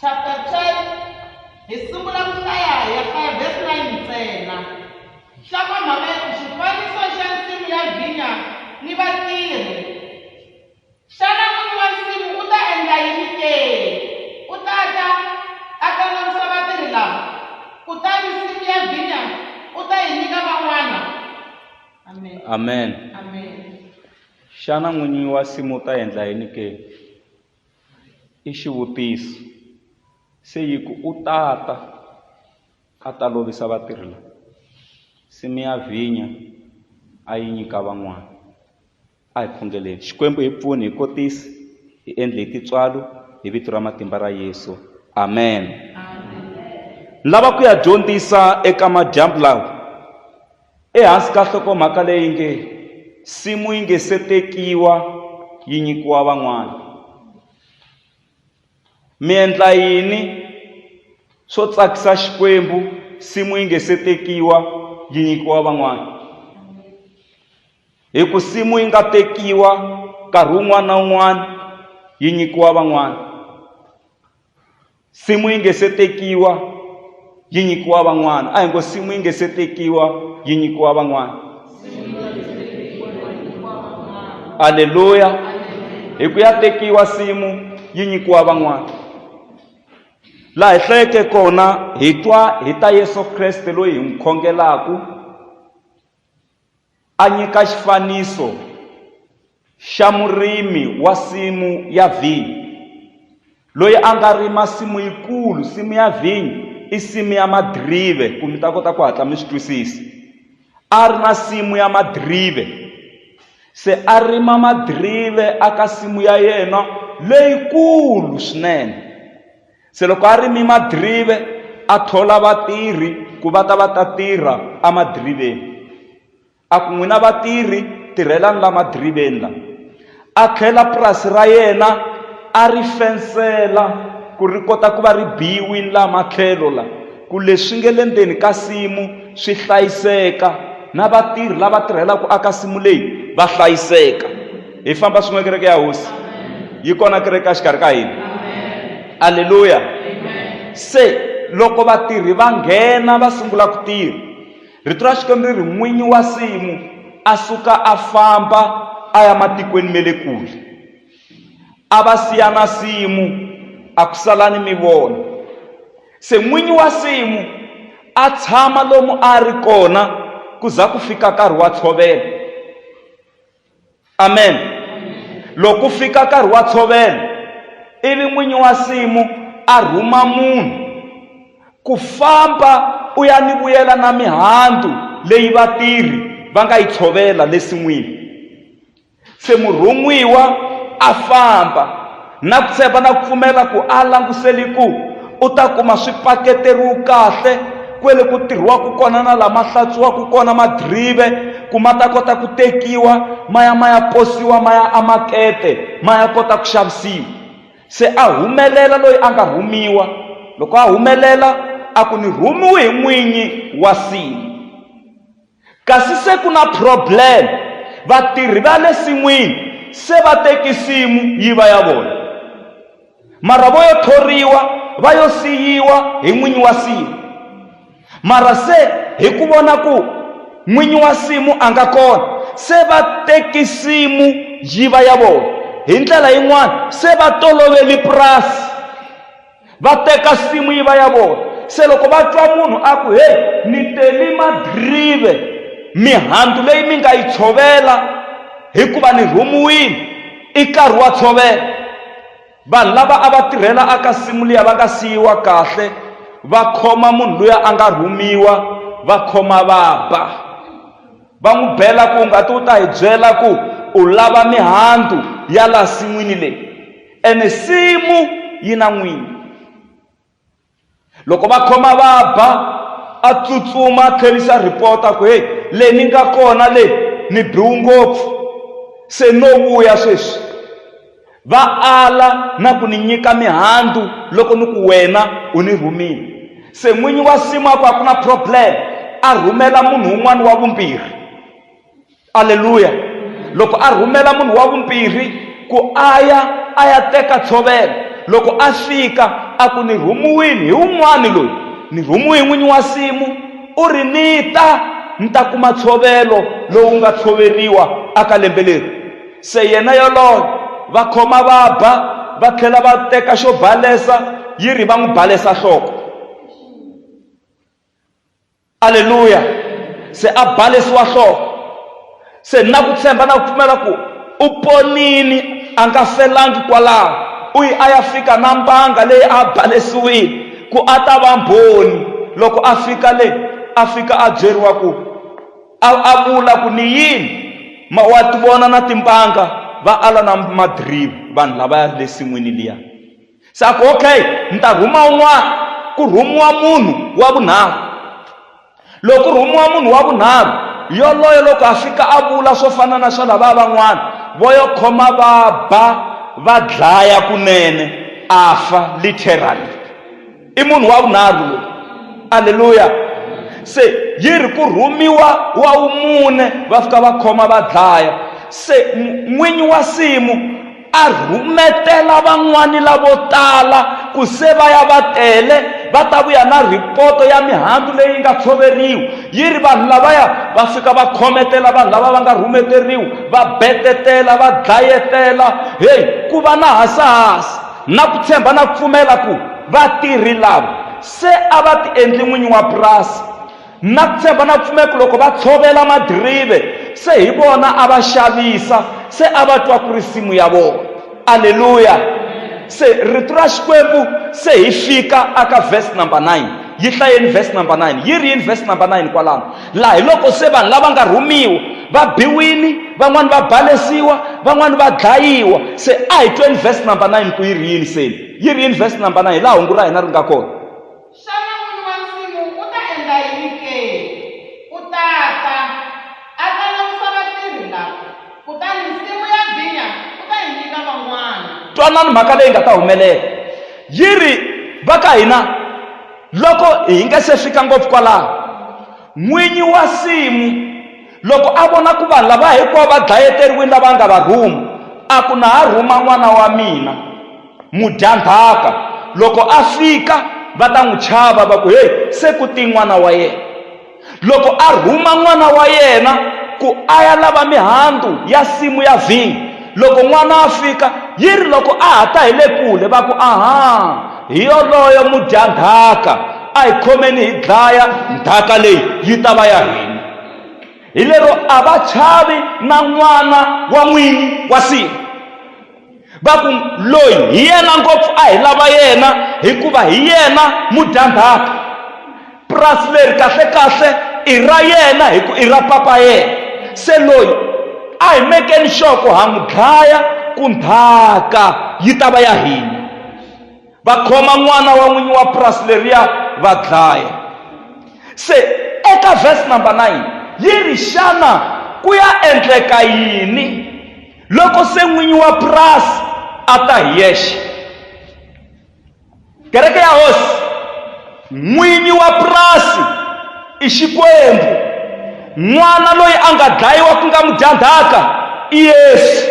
chapter 10 hi sungula ku hlaya hi ya hlaya verse 9 ntsena hlama mhaka ya ku xifaniso xa nsimu ya vhinya ni vatirhi xana n'wini wa nsimu u ta endla yini ke u ta ta a ta nonisa vatirhi lava kutani nsimu ya vhinya u ta yi nyika van'wana amen amen amen xana n'winyi wa simu u ta endla yini ke I xivutiso, se yi ku, U ta ta, a ta lovisa vatirhi lava, nsimu ya vhinya a yi nyika van'wana. A hi khongeleni. Xikwembu hi pfune hi kotise, hi endle hi tintswalo, hi Vito ra matimba ra Yesu. Amen. Ni lava ku ya dyondzisa eka madyambu lawa. Ehansi ka nhlokomhaka leyi nge Nsimu Yi Nge Se Tekiwa Yi Nyikiwa Van'wana, mi endla yini swo tsakisa Xikwembu nsimu yi nge se tekiwa yi nyikiwa van'wana? Hi ku nsimu yi nga tekiwa nkarhi wun'wana na wun'wana yi nyikiwa van'wana. simu yi nge se tekiwa yi nyikiwa van'wana a hi ngo simu yi nge se tekiwa yi nyikiwa van'wana aleluya hi ku ya tekiwa simu yi nyikiwa van'wana laha hi hlayeke kona hi twa hi ta yesu kreste loyi hi n'wi khongelaku A nyika xifaniso xa murimi wa simu ya vhinyo loyi a nga rima simu yikulu. Simu ya vhinyo i simu ya madirive, ku mi ta kota ku hatla mi swi twisisa. A ri na simu ya madirive, se a rima madirive eka simu ya yena leyikulu swinene. Se loko a rime madirive, a thola vatirhi ku va ta va ta tirha emadiriveni. A ku, N'wina vatirhi, tirhelani laha madiriveni la. A khela purasi ra yena, a ri fensela ku ri kota ku va ri biyiwini laha matlhelo la, ku leswi nge le ndzeni ka nsimu swi hlayiseka, na vatirhi lava tirhelaka aka nsimu leyi va hlayiseka. hi famba swin'we kereke ya hosi yi kona kereke exikarhi ka hina aleluya se loko vatirhi va nghena va sungula ku tirha rito ra xikwembu ri ri n'winyi wa simu a suka a famba a ya matikweni ma le kule a va siya na simu a ku sala ni mi vona se n'winyi wa simu a tshama lomu a ri kona ku za ku fika nkarhi wa tshovela amen loko ku fika nkarhi wa tshovelo ivi n'winyi wa nsimu a rhuma munhu ku famba u ya ni vuyela na mihandzu leyi vatirhi va nga yi tshovela le sin'wini se murhun'wiwa a famba Na ku tshemba na ku pfumela ku a languseli ku u ta kuma swi paketeriwe kahle kwele ku tirhiwaka kona na lama hlatsuwaka kona madirive ku ma ta kota ku tekiwa ma ya ma ya posiwa ma ya amakete ma ya kota ku xavisiwa se a humelela loyi a nga rhumiwa loko a humelela a ku ni rhumiwe hi n'winyi wa sini Kasi se ku na problem, vatirhi va le sin'wini se va teki simu yi va ya vona. Mara vo yo thoriwa va yo siyiwa hi n'winyi wa simu. Mara se hi ku vona ku n'winyi wa simu a nga kona, se va teki simu yi va ya vona. Hi ndlela yin'wana se va toloveli purasi. va teka simu yi va ya vona se loko va twa munhu a ku heyi ni teli madrive mihandzu leyi mi nga yi tshovela hikuva ni rhumiwile i nkarhi wa tshovela vanhu lava a va tirhela aka simu liya va nga siyiwa kahle va khoma munhu luya a nga rhumiwa va khoma va ba va n'wi bela ku ngati u ta hi byela ku u lava mihandzu ya laha sin'wini leyi Ene nsimu yi na n'wini. Loko va khoma va ba, a tsutsuma a tlherisa report a ku, Hey, le ni nga kona le ni biwu ngopfu, se no vuya sweswi. Va ala na ku ni nyika mihandzu loko ni ku wena u ni rhumile. Se n'winyi wa nsimu a ku, A ku na problem, a rhumela munhu un'wana wa vumbirhi. aleluya loko a rhumela munhu wa vumbirhi ku a ya a ya teka tshovelo loko a fika a ku ni rhumiwini hi un'wani loyi ni rhumiwi hi n'winyi wa simu u ri ni ta ni ta kuma tshovelo lowu nga tshoveriwa aka lembe leri se yena yoloye va khoma va ba va tlhela va teka xo balesa yi ri va n'wi balesa nhloko Aleluya! Se a balesiwa nhloko. Se ni na ku tshemba na ku pfumela ku u ponile, a nga felangi kwalaho. U yi a ya fika na mbanga leyi a balesiwile ku a ta va Mbhoni. Loko a fika le, a fika a byeriwa ku a a vula ku, Ni yini? Ma wa ti vona na timbanga? Va ala na madiriva vanhu lavaya le nsin'wini liya. Swa ku, okay, ni ta rhuma un'wana. Ku rhumiwa munhu wa vunharhu. Loko ku rhumiwa munhu wa vunharhu, yoloye loko a fika a vula swo fana na swa lavaya van'wana, vo yo khoma va ba, va dlaya kunene, a fa, literally. i munhu wa vunharhu loyi aleluya se yi ri ku rhumiwa wa wumune va fika va khoma va dlaya se n'winyi wa simu a rhumetela van'wani lavo tala ku se va ya va tele va ta vuya na ripoto ya mihandzu leyi nga tshoveriwa yi ri vanhu lavaya va fika va khometela vanhu lava va nga rhumeteriwa va betetela va dlayetela heyi ku va na hasahasa Na ku tshemba na pfumela ku vatirhi lava se a va ti endli n'winyi wa purasi. Na ku tshemba na pfumela ku loko va tshovela madirive se hi vona a va xavisa, se a va twa ku ri simu ya vona. Aleluya! Se Rito ra Xikwembu se hi fika aka verse number 9. Yi hlayeni verse number 9. Yi ri yini verse number 9 kwalano? laha hi loko se vanhu lava nga rhumiwa va biwini van'wani va balesiwa van'wani va dlayiwa se a hi tweni verse number 9 ku yi ri yini se yi ri yini verse number 9 hi laha hungu ra hina ri nga kona xana n'wini wa nsimu u ta endla yini ke u ta ta a ta langusa vatirhi lava kutani nsimu ya vinya u ta yi nyika van'wana twanani mhaka leyi nga ta humelela yi ri va ka hina Loko hi nga se fika ngopfu kwalaho, n'winyi wa nsimu loko a vona ku vanhu lava hinkwavo va dlayeteriwile lava nga va rhuma, a ku, Na ha rhuma n'wana wa mina mudyandzhaka. Loko a fika, va ta n'wi chava va ku, Heyi, se ku te n'wana wa yena! loko a rhuma n'wana wa yena ku a ya lava mihandzu ya simu ya vhinyo loko n'wana a fika yi ri loko a ha ta hi le kule va ku aha hi yoloyo mudyandhaka a hi khomeni hi dlaya ndhaka leyi yi ta va ya hina hi lero a va chavi na n'wana wa n'wini wa simu va ku loyi hi yena ngopfu a hi lava yena hikuva hi yena mudyandzhaka purasi leri kahlekahle i ra yena hi ku i ra papa yena se loyi a hi mekeni sure ku ha n'wi dlaya ku ndhaka yi ta va ya hina va khoma n'wana wa n'winyi wa purasi leriya va dlaya se eka verse number 9 yi ri xana ku ya endleka yini loko se n'winyi wa purasi a ta hi yexe kereke ya hosi n'winyi wa purasi i xikwembu n'wana loyi a nga dlayiwa ku nga mudyandhaka i yesu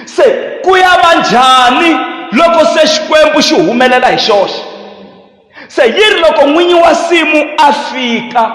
se ku ya va njhani loko se xikwembu xi humelela hi xoxe Se yi ri loko n'winyi wa nsimu a fika,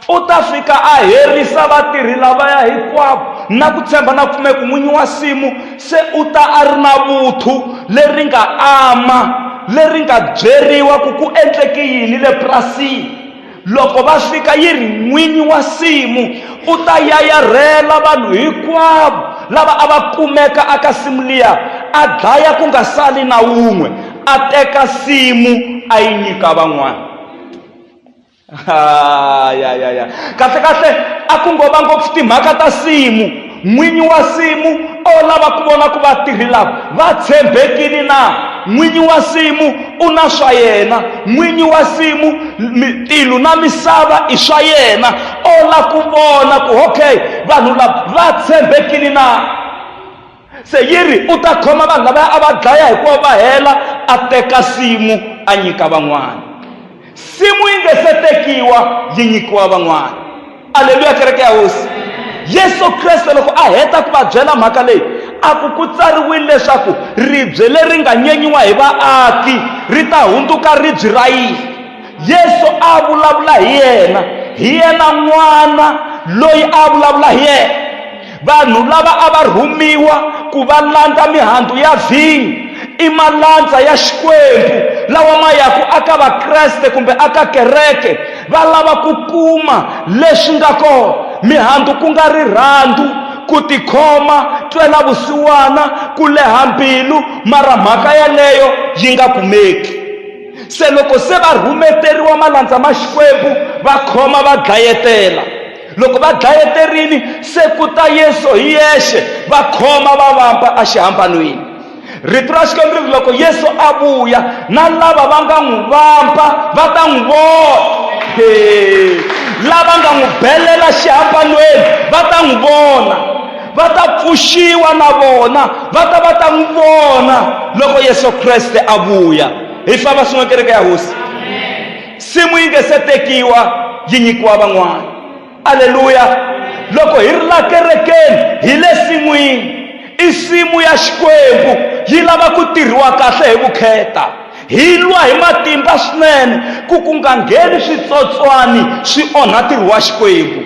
u ta fika a herisa vatirhi lavaya hinkwavo na ku tshemba na pfumeko. N'winyi wa nsimu se u ta a ri na vuthu leri nga ama, leri nga byeriwa ku ku endleke yini le purasini. Loko va fika yi ri n'winyi wa nsimu u ta yayarhela vanhu hinkwavo lava a va kumeka aka simu liya a dlaya ku nga sali na wun'we a teka nsimu a yi nyika van'wana ya ya ya kahle kahle a ku ngova ngopfu timhaka ta nsimu n'winyi wa nsimu o lava ku vona ku vatirhi lava va tshembekile na n'winyi wa nsimu u na swa yena n'winyi wa nsimu tilu na misava i swa yena o lava ku vona ku okay vanhu lava va tshembekile na se yi ri u ta khoma vanhu lavaya a va dlaya hikuva va hela a teka simu a nyika van'wana simu yi nge se tekiwa yi nyikiwa van'wana aleluya kereke ya hosi yesu kreste loko a heta ku va byela mhaka leyi a ku ku tsariwile leswaku ribye leri nga nyenyiwa hi vaaki ri ta hundzuka ribyi ra yini yesu a vulavula hi yena hi yena n'wana loyi a vulavula hi yena Vanhu lava a va rhumiwa ku va landza mihandzu ya vhinyo i malandza ya Xikwembu lawa ma yaku aka Vakreste kumbe aka kereke va lava ku kuma leswi nga kona. Mihandzu ku nga rirhandzu, ku tikhoma, ntwela-vusiwana, ku leha mbilu, mara mhaka yaleyo yi nga kumeki. Se loko se va rhumeteriwa malandza ma Xikwembu, va khoma va dlayetela. loko va dlayeterini se ku ta yesu hi yexe va khoma va vampa exihambanweni rito ra xikwembu ri loko yesu a vuya na lava va nga n'wi vampa va ta n'wi vona lava nga n'wi belela xihambanweni va ta n'wi vona va ta pfuxiwa na vona va ta va ta n'wi vona loko yesu kreste a vuya hi famba swin'we kereke ya hosi nsimu yi nge se tekiwa yi nyikiwa van'wana aleluya loko hi ri la kerekeni hi le sin'wini i nsimu ya xikwembu yi lava ku tirhiwa kahle hi vukheta hi lwa hi matimba swinene ku ku nga ngheni switsotswani swi onha ntirho wa xikwembu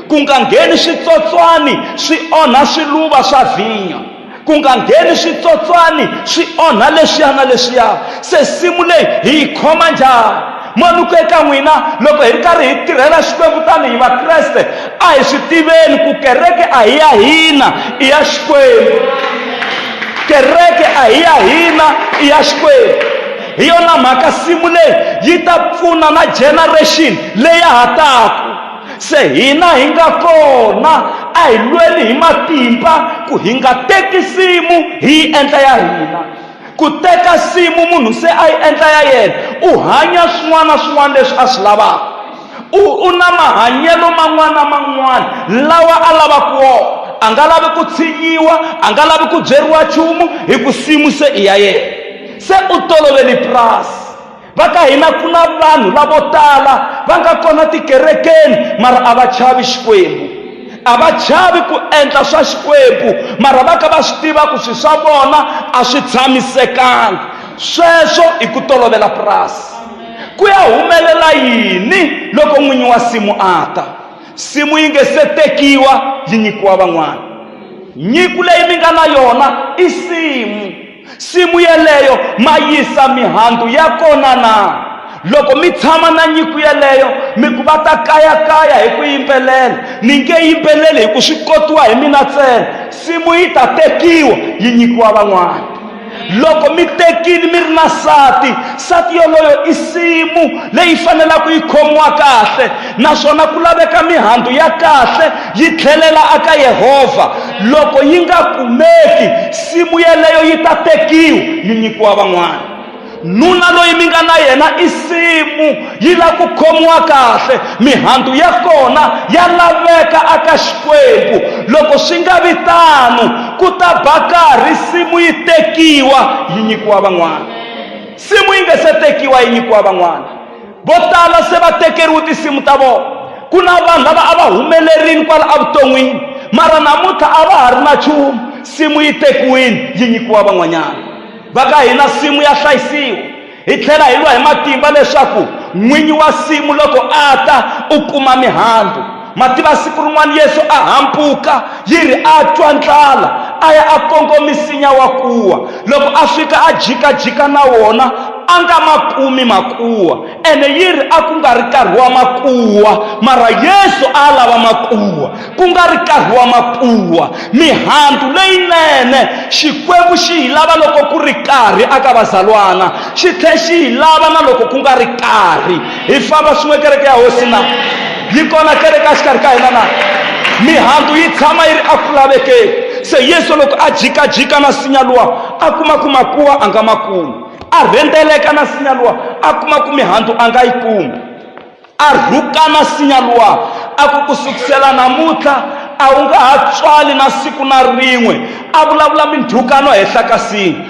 ku nga ngheni switsotswani swi onha swiluva swa vhinya ku nga ngheni switsotswani swi onha leswiya na leswiya se simu leyi hi yi khoma njhani manuko eka n'wina loko hi ri karhi hi tirhela xikwembu tanihi vakreste a hi swi tiveni ku kereke a hi ya hina i ya xikwembu kereke a hi ya hina i ya xikwembu hi yona mhaka simu leyi yi ta pfuna na generation leyi ya ha taka Se hina hi nga kona, a hi lweli hi matimba ku hi nga teki simu hi yi endla ya hina. Ku teka simu munhu se a yi endla ya yena, u hanya swin'wana na swin'wana leswi a swi lavaka. U u na mahanyelo man'wana na man'wana lawa a lavaka wona. A nga lavi ku tshinyiwa, a nga lavi ku byeriwa nchumu hi ku simu se i ya yena. Se u tolovele purasi. va ka hina ku na vanhu lavo tala va nga kona tikerekeni mara a va chavi xikwembu a va chavi ku endla swa xikwembu mara va ka va swi tiva ku swi swa vona a swi tshamisekanga sweswo i ku tolovela purasi ku ya humelela yini loko n'winyi wa simu a ta simu yi nge se tekiwa yi nyikiwa van'wana nyiku leyi mi nga na yona i simu Nsimu yeleyo ma yisa mihandzu ya kona na? Loko mi tshama na nyiku yeleyo, mi ku va ta kayakaya hi ku yimbelela. Ni nge yimbeleli hi ku swi kotiwa hi mina ntsena. Nsimu yi ta tekiwa yi nyikiwa van'wana. Loko mi tekile mi ri na nsati, nsati yoloyo i nsimu leyi fanelaka yi khomiwa kahle, naswona ku laveka mihandzu ya kahle yi tlhelela aka Yehovha. loko yi nga kumeki simu yeleyo yi ta tekiwa yi nyikiwa van'wana nuna loyi mi nga na yena i simu yi lava ku khomiwa kahle mihandzu ya kona ya laveka aka xikwembu loko swi nga vi tano ku ta ba karhi simu yi tekiwa yi nyikiwa van'wana simu yi nga se tekiwa yi nyikiwa van'wana vo tala se va tekeriwe tinsimu ta vona ku na vanhu lava a va humelerile kwala evuton'wini mara namuntlha a va ha ri na nchumu nsimu yi tekiwile yi nyikiwa van'wanyana va ka hina nsimu ya hlayisiwa hi tlhela hi lwa hi matimba leswaku n'winyi wa nsimu loko a ta u kuma mihandzu Ma tiva siku rin'wana Yesu a hampuka yi ri a twa ndlala a ya a kongo misinya wa kuwa loko a fika a jikajika na wona a nga ma kumi makuwa ene yi ri a ku nga ri nkarhi wa makuwa mara yesu a lava makuwa ku nga ri nkarhi wa makuwa mihandzu leyinene xikwembu xi yi lava loko ku ri karhi aka vazalwana xi tlhe xi yi lava na loko ku nga ri karhi hi famba swin'we kereke ya hosi na yi kona kereke a xikarhi ka hina na mihandzu yi tshama yi ri eku lavekeni se yesu loko a jikajika na sinya luwa a kuma ku makuwa a nga ma kumi a rhendzeleka na sinya luwa a kuma ku mihandzu a nga yi kumi a rhuka na sinya luwa a ku ku sukusela namuntlha a wu nga ha tswali na siku na rin'we a vulavula mindhukano henhla ka sinya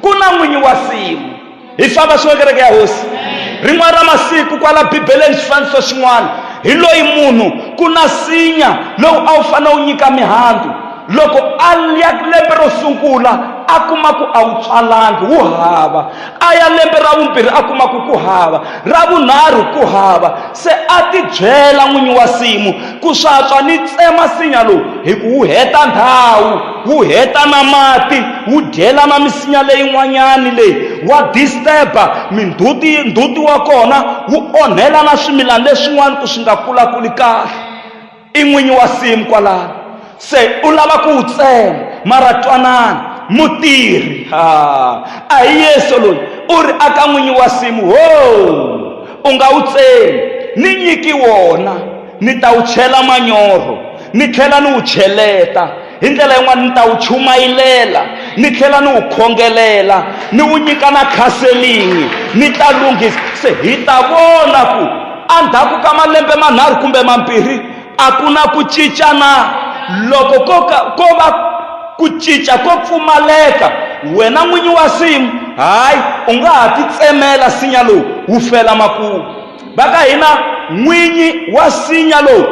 ku na n'winyi wa simu hi famba swin'we kereke ya hosi rin'wana ra masiku kwala bibeleni xifaniso xin'wana hi loyi munhu ku na sinya lowu a wu fanele wu nyika mihandzu loko a ya lembe ro sungula a kuma ku a wu tswalangi wu hava a ya lembe ra vumbirhi a kuma ku ku hava ra vunharhu ku hava se a tibyela n'winyi wa simu Ku swatswa ni tsema nsinya lowu hi ku wu heta ndhawu, wu heta na mati, wu dyela na misinya leyin'wanyani leyi wa disturb-a minduti, nduti wa kona wu onhela na swimilana leswin'wana ku swi nga kulakuli kahle. I n'winyi wa nsimu kwalano. se u lava ku wu tsema mara twanana mutirhi a hi yesu loyi u ri aka n'winyi wa simu ho u nga wu tsemi ni nyiki wona ni ta wu chela manyoro ni tlhela ni wu cheleta hi ndlela yin'wana ni ta wu chumayilela ni tlhela ni wu khongelela ni wu nyika na khaselingi ni ta lunghisa se hi ta vona ku endzhaku ka malembe manharhu kumbe mambirhi a ku na ku cincana loko ko ka ko va ku cinca ko pfumaleka wena n'winyi wa simu hayi u nga ha titsemela sinya lowu wu fela makumu va ka hina n'winyi wa sinya lowu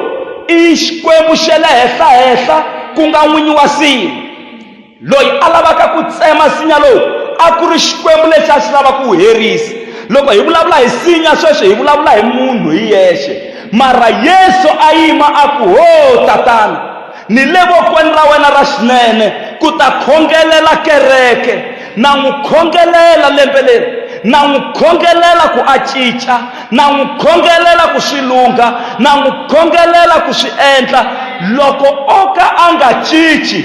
i xikwembu xa le henhlahenhla ku nga n'winyi wa simu Loyi a lavaka ku tsema nsinya lowu a ku ri Xikwembu lexi a xi lava ku wu herisa. Loko hi vulavula hi nsinya sweswi hi vulavula hi munhu hi yexe, mara Yesu a yima a ku, Ho Tatana, ni le vokweni ra wena ra xinene ku ta khongelela kereke. Na n'wi khongelela lembe leri, na n'wi khongelela ku a cinca, na n'wi khongelela ku swi lungha, na n'wi khongelela ku swi endla. Loko o ka a nga cinci,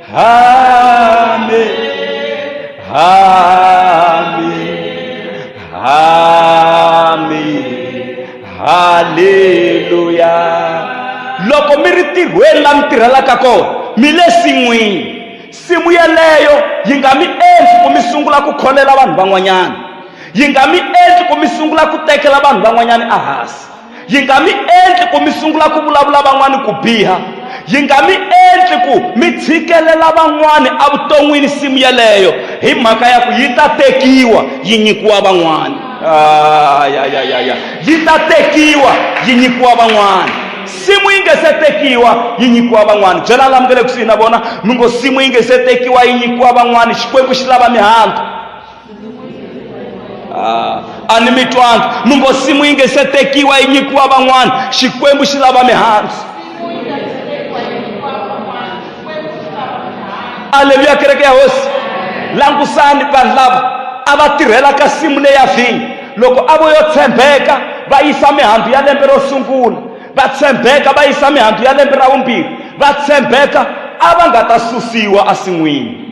Hame, hame, hame, haleluya. Loko mi ri tirhweni la mi tirhelaka kona, mi le sin'wini. Simu yeleyo yi nga mi endli ku mi sungula ku kholela vanhu van'wanyana. Yi nga mi endli ku mi sungula ku tekela vanhu van'wanyana ehansi. yi nga mi endli ku mi sungula ku vulavula van'wana ku biha yi nga mi endli ku mi tshikelela van'wana evuton'wini nsimu yeleyo hi mhaka ya ku yi ta tekiwa yi nyikiwa van'wana ah, ya ya ya ya yi ta tekiwa yi nyikiwa van'wana simu yi nge se tekiwa yi nyikiwa van'wana byela la mi nga le kusuhi na vona mi ngo simu yi nge se tekiwa yi nyikiwa van'wana xikwembu xi lava mihandzu Ah, ani mitwanga numbo simu ingesetekiwa inyikuwa bang'wana xikwembu xi lava mihandzu aleluya kereke ya hosi langusani vanhu lava a va tirhela ka simu leya vhinyo loko a vo yo tshembeka va yisa mihandzu ya lembe ro sungula va tshembeka va yisa mihandzu ya lembe ra vumbirhi va tshembeka a va nga ta susiwa esin'wini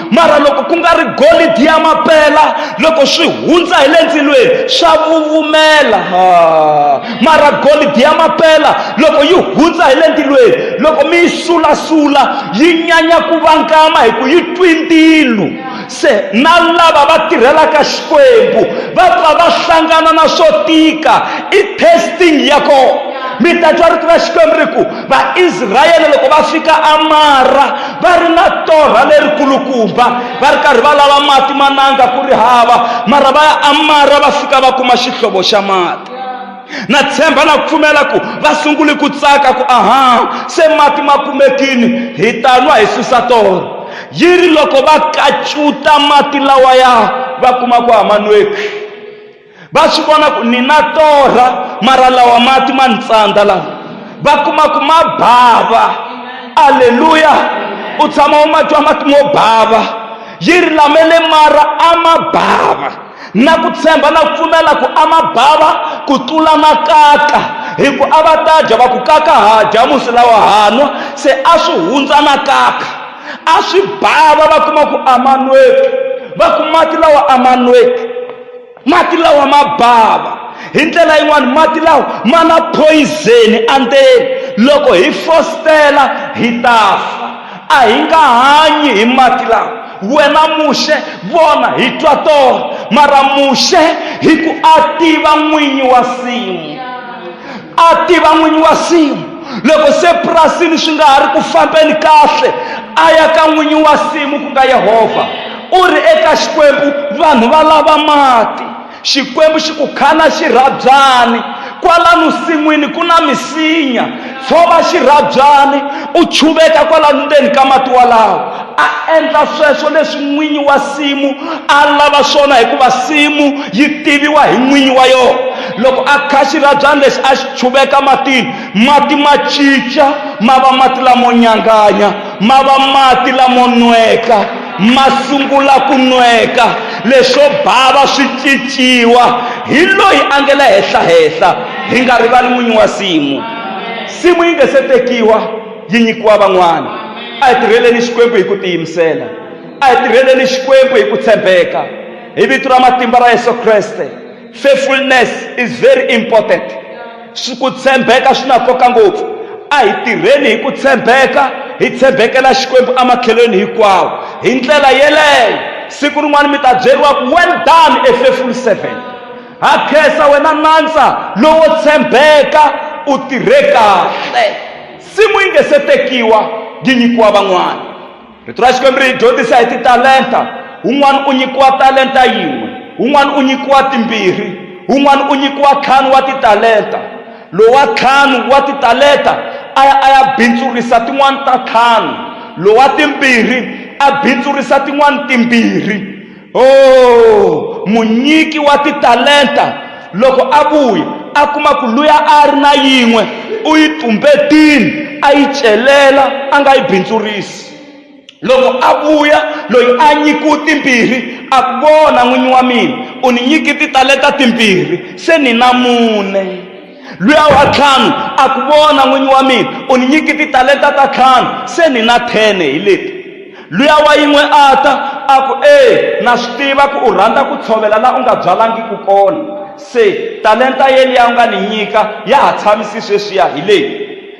mara loko ku nga ri golidi ya mapela loko swi hundza hi le ndzilweni swa vuvumela mara golidi ya mapela loko yi hundza hi le ndzilweni loko mi yi sulasula yi nyanya ku vangama hi ku yi twi ntilu se na lava va tirhelaka xikwembu va pfa va hlangana na swo tika i testing ya kona mi ta twa rito ra xikwembu ri ku Vaisrayele loko va fika amara va ri na torha lerikulukumba va ri karhi va lava mati mananga ku ri hava mara va ya amara va fika va kuma xihlovo xa mati na tshemba na pfumela ku va sungule ku tsaka ku aha se mati ma kumekini hi ta nwa hi susa torha yi ri loko va kacuta mati lawaya va kuma ku a ma nweki va swi vona ku ni na torha mara lawa mati ma ni tsandza lawa va kuma ku ma bava aleluya u tshama u ma twa mati mo bava yi ri lamele mara a ma bava na ku tshemba na ku pfumela ku a ma bava ku tlula makaka hi ku a va ta dya va ku kaka ha dya musi lawa hanwa se a swi hundza na kaka a swi bava va kuma ku a ma nweki va ku mati lawa a ma nweki mati lawa ma bava hi ndlela yin'wani mati lawa ma na phoyizeni endzeni loko hi fositela hi ta fa a hi nga hanyi hi mati lawa wena muxe vona hi twa tona mara muxe hi ku a tiva n'winyi wa simu a tiva n'winyi wa simu loko se purasini swi nga ha ri ku fambeni kahle a ya ka n'winyi wa simu ku nga yehovha u ri eka xikwembu vanhu va lava mati xikwembu xi ku khana xirhabyani kwalano sin'wini ku na misinya tshova xirhabyani u chuveka kwalano ndzeni ka mati walawo a endla sweswo leswi n'winyi wa simu a lava swona hikuva simu yi tiviwa hi n'winyi wa yona loko a kha xirabyani lexi a xi chuveka matini mati ma cinca ma va mati lamo nyanganya ma va mati lamo nweka ma sungula ku nweka leswo bava swi cinciwa hi loyi a nge le henhla henhla hi nga rivali n'winyi wa simu simu yi nge se tekiwa yi nyikiwa van'wana a hi tirheleni xikwembu hi ku tiyimisela a hi tirheleni xikwembu hi ku tshembeka hi vito ra matimba ra yesu kreste Faithfulness is very important. Swi ku tshembeka swi na nkoka ngopfu. A hi tirheni hi ku tshembeka, hi tshembekela Xikwembu emakhelweni hinkwawo. Hi ndlela yeleyo, siku rin'wana mi ta byeriwa ku, well done a faithful servant. Ha khensa wena nandza lowo tshembeka, u tirhe kahle. Nsimu yi nge se tekiwa, yi nyikiwa van'wana. rito ra xikwembu ri hi dyondzisa hi titalenta un'wana u nyikiwa talenta yin'we un'wana u nyikiwa timbirhi un'wana u nyikiwa ntlhanu wa titalenta lowa ntlhanu wa titalenta a ya a ya bindzurisa tin'wana ta ntlhanu lowa timbirhi a bindzurisa tin'wana timbirhi Oh, munyiki wa titalenta loko a vuya a kuma ku luya a ri na yin'we u yi tumbetini a yi celela a nga yi bindzurisi loko a vuya loyi a nyikiwe timbirhi a ku vona n'winyi wa mina u ni nyiki titalenta timbirhi se ni na mune luya wa ntlhanu a ku vona n'winyi wa mina u ni nyiki titalenta ta ntlhanu se ni na thene hi leti luya wa yin'we a ta a ku e na swi tiva ku u rhandza ku tshovela la u nga byalangiki kona se talenta yeliya u nga ni nyika ya ha tshamisi sweswiya hi leyi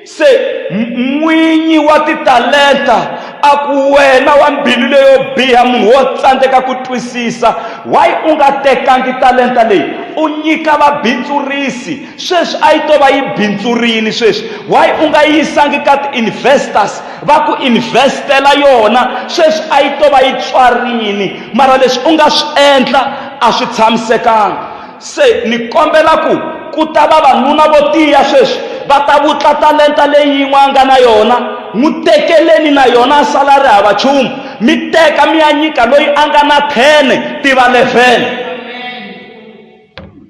Se n'winyi wa titalenta a ku, Wena wa mbilu leyo biha, munhu wo tsandzeka ku twisisa! Why u nga tekangi talenta leyi u nyika vabindzurisi? Sweswi a yi to va yi bindzurile sweswi. Why u nga yi yisangi ka ti-investors va ku invest-ela yona? Sweswi a yi to va yi tswarile, mara leswi u nga swi endla a swi tshamisekanga. se ni kombela ku ku ta vavanuna vo tiya sweswi va ta vutla talenta leyi yin'we a nga na yona n'wi tekeleni na yona a sala ri hava chumu mi teka mi ya nyika loyi a nga na 10 ti va 11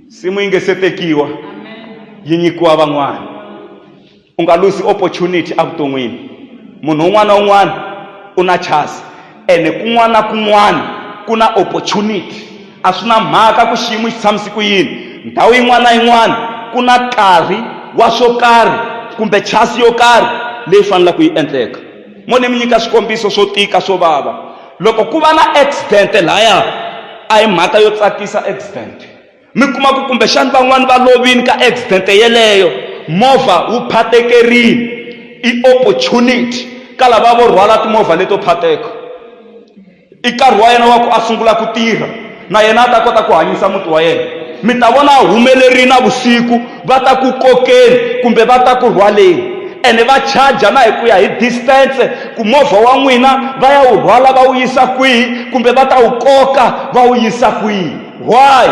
simu yi nge se tekiwa yi nyikiwa van'wana U nga luzi opportunity evuton'wini. Munhu un'wana na un'wana u na chance ene kun'wana na kun'wana ku na opportunity. A swi na mhaka ku xiyimo xi tshamise ku yini, ndhawu yin'wana na yin'wana ku na karhi wa swo karhi kumbe chance yo karhi leyi fanelaka ku yi endleka. Mo ni mi nyika swikombiso swo tika swo vava. Loko ku va na accident lahaya a hi mhaka yo tsakisa accident. mi kuma ku kumbexani van'wani va lovini ka accident yeleyo movha wu phatekerini i opportunity ka lava vo rhwala timovha leto phateka i nkarhi wa yena wa ku a sungula ku tirha na yena a ta kota ku hanyisa muti wa yena mi ta vona a humelerile na vusiku va ta ku kokeni kumbe va ta ku rhwaleni ene va charger na hi ku ya hi distance ku movha wa n'wina va ya wu rhwala va wu yisa kwihi kumbe va ta wu koka va wu yisa kwihi Why?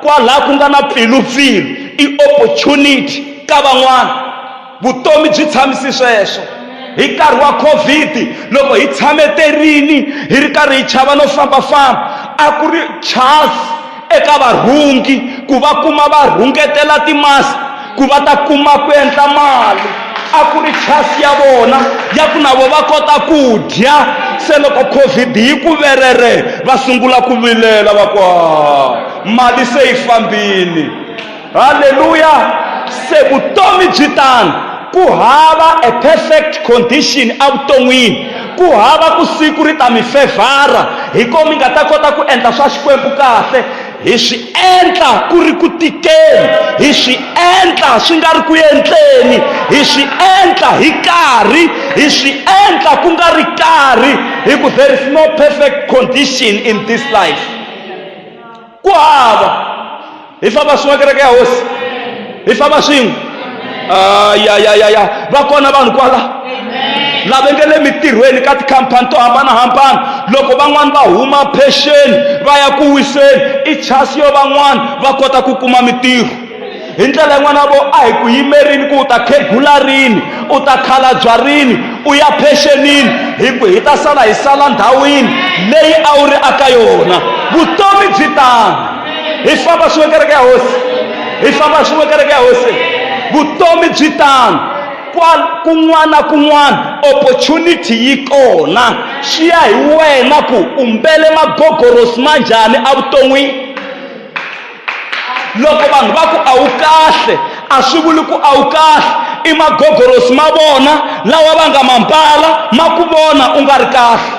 Kwalaha ku nga na pfilu-pfilu i opportunity ka van'wana. Vutomi byi tshamisi sweswo. Hi nkarhi wa Covid loko hi tshame terini hi ri karhi hi chava no fambafamba, a ku ri chance eka varhungi ku va kuma va rhungetela timask ku va ta kuma ku endla mali a ku ri chasi ya vona ya ku na vo va kota ku dya se loko covid yi ku verere va sungula ku vilela va ku mali se yi fambini halleluya se vutomi byi tano ku hava a perfect condition evuton'wini ku hava ku siku ri ta mi fevhara hi ko mi nga ta kota ku endla swa xikwembu kahle Hi swi endla ku ri ku tikeni, hi swi endla swi nga ri ku endleni, hi swi endla hi karhi, hi swi endla ku nga ri karhi, hi ku there is no perfect condition in this life. Ku hava. Hi famba swin'we kereke ya hosi. hi famba swin'we ah, ya ya ya ya va kona vanhu kwala lava nge le mitirhweni ka tikhampani to hambanahambana loko van'wani va huma phexeni va ya ku wiseni i chasi yo van'wani va kota ku kuma mitirho hi ndlela yin'wana vo a hi ku yimerini ku u ta khegula rini u ta khalabya rini u ya phexenini hi ku hi ta sala hi sala ndhawini leyi a wu ri aka yona vutomi byi tano hi famba swin'we kereke ya hosi hi famba swin'we kereke ya hosi vutomi byi tano kun'wana kun'wana opportunity yi kona swi ya hi wena ku umbele magogorosi ma njhani evuton'wini loko vanhu va ku a wu kahle a swi vuli ku a wu kahle i magogorosi ma vona lawa va nga ma mbala ma ku vona u nga ri kahle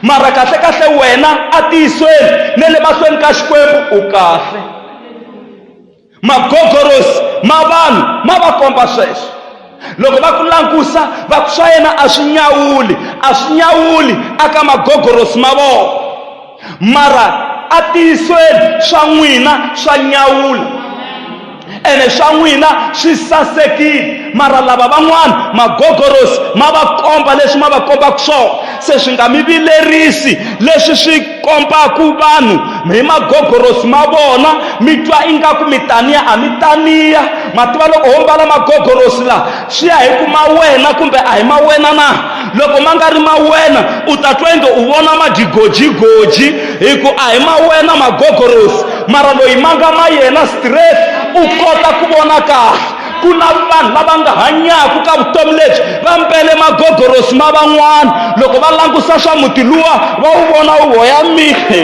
mara kahle kahle wena a tiyisweni ne le mahlweni ka xikwembu u kahle magogorosi ma vanhu ma va komba sweswo loko va ku langusa va ku swa yena a swi nyawuli a swi nyawuli aka magogorosi ma vona mara a tiyisweni swa n'wina swa nyawula ene swa n'wina swi sasekile mara lava van'wana magogorosi ma va komba leswi ma va kombaka swona se swi nga mi vilerisi leswi swi kombaka vanhu hi magogorosi ma vona mi twa ingaku mi taniya a mi taniya ma tiva loko ho mbala magogorosi lawa swi ya hi ku ma wena kumbe a hi ma wena na loko ma nga ri ma wena u ta twa inge u vona magigojigoji hi ku a hi ma wena magogorosi mara loyi ma nga ma yena stress u kota ku vona kahle ku na vanhu lava nga hanyaka ka vutomi lebyi va mbele magogorosi ma van'wana loko va langusa swa muti luwa va wu vona wu hoya mihe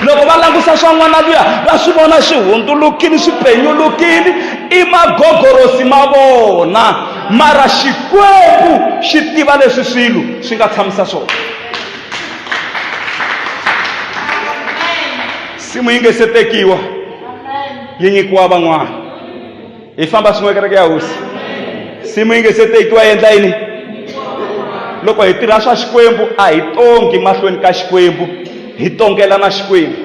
loko va langusa swa n'wana luya va swi vona swi hundzulukile swi penyulukile i magogorosi ma vona Mara Xikwembu xi tiva leswi swilo swi nga tshamisa swona. Simu yi nge se tekiwa yi nyikiwa van'wana. Hi famba swin'we kereke ya hosi. Simu yi nge se tekiwa yi endla yini? Loko hi tirha swa Xikwembu a hi tongi mahlweni ka Xikwembu, hi tongela na Xikwembu.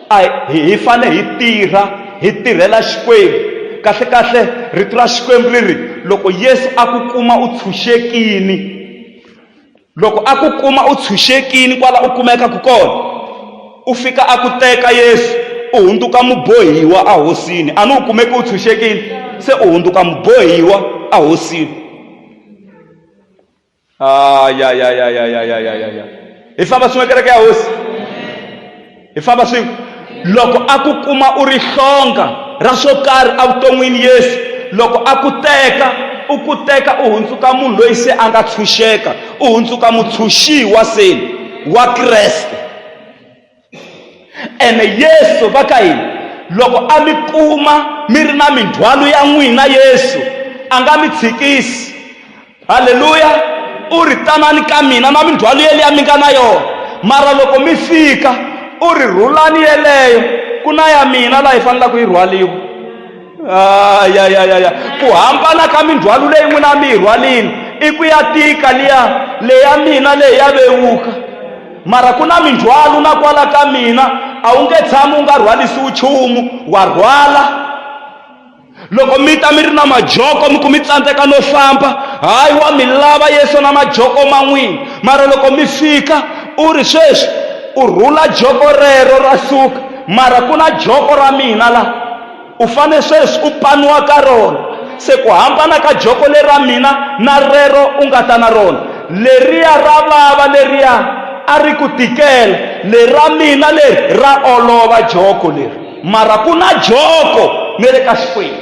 a hi hi fane hi tirha hi tirhela xikwembu kahlekahle rito ra xikwembu ri ri loko yesu a ku kuma u tshunxekini loko a ku kuma u tshunxekini kwala u kumekaka kona u fika a ku teka yesu u hundzuka mubohiwa ahosini a ni u kumeki u tshunxekini se u hundzuka mubohiwa ahosini Ay, ay, ay, ay, ay, ay, ay, ay, ay, ay. hi famba swin'we kereke ya hosi hi famba swin'we loko a ku kuma u ri hlonga ra swo karhi evuton'wini yesu loko a ku teka u ku teka u hundzuka munhu loyi se a nga tshunxeka u hundzuka mutshunxiwa seni wa kreste ene yesu va ka yini loko a mi kuma mi ri na mindzhwalo ya n'wina yesu a nga mi tshikisi halleluya u ri tanani ka mina na mindzhwalo yeliya mi nga na yona mara loko mi fika u ri rhulani yeleyo ku na ya mina laha yi fanelaka yi rhwaliwa Ah, ya ya ya ya ku hambana ka mindzhwalo leyi n'wina mi yi rhwalini i ku ya tika liya leya mina leyi ya vewuka mara ku na mindzhwalo na kwala ka mina a wu nge tshami u nga rhwarisiwi nchumu wa rhwala loko mi ta mi ri na majoko mi ku mi tsandzeka no famba hayi wa mi lava yesu na majoko man'wini mara loko mi fika u ri sweswi u rhula joko rero ra suka mara ku na joko ra mina la U fanele sweswi u paniwa ka rona, se ku hambana ka joko leri ra mina na rero u nga ta na rona, leriya ra vava, leriya a ri ku tikela, leri ra mina leri ra olova, joko leri. Mara ku na joko ne le ka Xikwembu.